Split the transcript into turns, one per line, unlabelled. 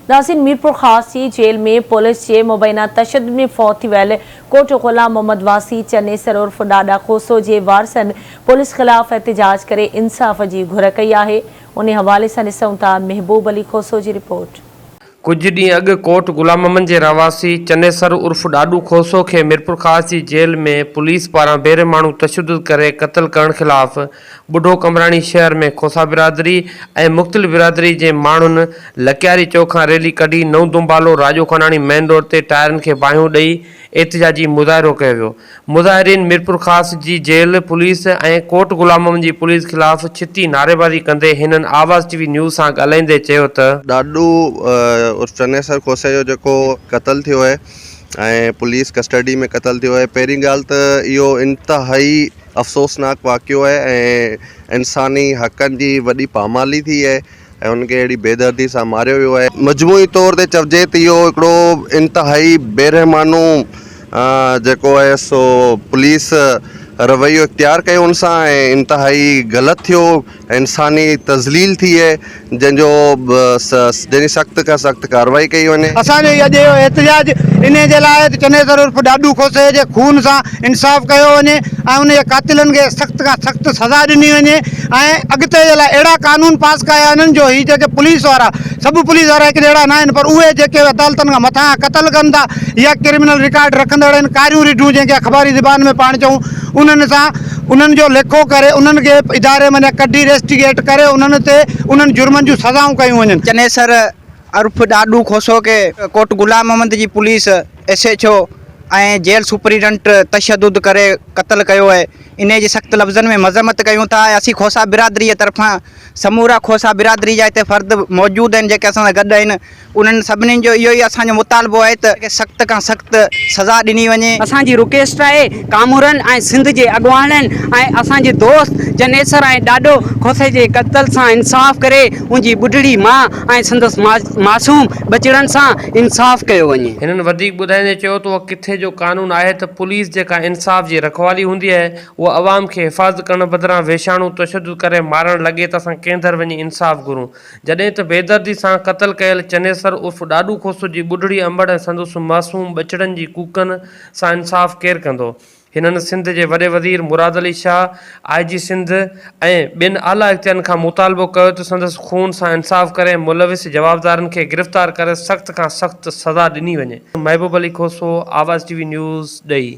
ناظرين ميرپورخاص جي jail ۾ police جي مبينا تشدد ۾ فوت ٿي ويل ڪوٽ غلام محمد واسي چنيسر عرف ڏاڏا کوسو جي وارثن پوليس خلاف احتجاج ڪري انصاف جي گهر ڪئي آهي انهي حوالي سان ڏسون ٿا محبوب علي کوسو جي رپورٽ. ڪجهه ڏينهن
اڳ ڪوٽ غلام محمد جي رهواسي چنيسر عرف ڏاڏو کوسو کي ميرپورخاص جي جيل ۾ پوليس پاران بي رحماڻو تشدد ڪري قتل ڪرڻ خلاف ٻڍو قمبراڻي شهر ۾ کوسا برادري ۽ مختلف برادري جي ماڻهن لڪياري چوڪ کان ريلي ڪڍي نئون دنبالو راڄو خاناڻي مين روڊ تي ٽائرن کي باهيون ڏئي احتجاجي مظاهرو ڪيو ويو مظاهرين ميرپورخاص جي جيل پوليس ۽ ڪوٽ غلاممحمد جي پوليس خلاف ڇتي نعريبازي ڪندي هنن آواز ٽي وي نيوز سان ڳالهائيندي چيو ته. ڏاڏو
عرف چنيسر کوسي جو جيڪو قتل ٿيو اهي ۽ پوليس ڪسٽرڊي ۾ قتل ٿيو اهي پهرين ڳالهه ته اهو انتهائي افسوسناڪ واقعو آهي ۽ انساني حقن جي وڏي پامالي ٿي آهي ۽ هن کي اهڙي بيدردي سان ماريو ويو آهي. مجموعي طور تي چئجي ته اهو هڪڙو انتهائي بيرحمانو جيڪو آهي سو پوليس رويو اختيار ڪيو ان سان ۽ انتهائي غلط ٿيو انساني تذليل ٿئي جنهن جو جنهن جي سخت کان سخت ڪارروائي ڪئي وڃي. اسان جو اڄ اهو
احتجاج انهي جي لاء آهي ته چنيسر عرف ڏاڏو کوسي جي خون سان انصاف ڪيو وڃي ۽ ان جي قاتلن کي سخت کان سخت سزا ڏني وڃي ۽ اڳتي جي لاء اهڙا قانون پاس ڪيا وڃن جو هي جيڪي پوليس وارا سڀ پوليس وارا هڪ جهڙا نه آهن پر اهي جيڪي عدالتن کان مٿانهان قتل ڪن ٿا يا ڪرمنل رڪارڊ رکندڙ آهن ڪاريون رڍون جنهن کي اخباري زبان ۾ پاڻ چئون انهن سان انهن جو ليکو ڪري انهن کي اداري مان ڪڍي ريسٽيگيٽ ڪري انهن تي انهن جرمن جون سزائون ڪيون وڃن. چنيسر
عرف ڏاڏو کوسو کي ڪوٽ غلام محمد جي police S H O ۽ jail superintendent تشدد ڪري قتل ڪيو اهي انهي جي سخت لفظن ۾ مذمت ڪيون ٿا ۽ اسين کوسا برادري جي طرفان سمورا کوسا برادري جا هتي فرد موجود آهن جيڪي اسان سان گڏ آهن انهن سڀني جو اهو ئي اسان جو مطالبو آهي ته سخت کان سخت سزا ڏني وڃي. اسان جي رڪيسٽ آهي
ڪامورن ۽ سنڌ جي اڳواڻن ۽ اسان جي دوست جنيسر ۽ ڏاڏو کوسي جي قتل سان انصاف ڪري ان جي ٻڍڙي ماء ۽ سندس معصوم ٻچڙن سان انصاف ڪيو وڃي. هنن وڌيڪ ٻڌائيندي
چيو ته اهو ڪٿي جو قانون آهي ته پوليس جيڪا انصاف جي رکوالي هوندي آهي هو عوام کي حفاظت ڪرڻ بدران وحشاڻو تشدد ڪري مارڻ لڳي ته اسان ڪنهن در وڃي انصاف گهرون؟ جڏهن ته بيدردي سان قتل ڪيل چنيسر عرف ڏاڏو کوسو جي ٻڍڙي انبڙ ۽ سندس معصوم ٻچڙن جي ڪوڪن سان انصاف ڪير ڪندو؟ هنن سنڌ جي وڏي وزير مراد علي شاهه، آء جي سنڌ ۽ ٻين اعليٰ اختيارين کان مطالبو ڪيو ته سندس خون سان انصاف ڪري ملوث جوابدارن کي گرفتار ڪري سخت کان سخت سزا ڏني وڃي. محبوب Ali Khoso, Awaz T V news, ڏهي.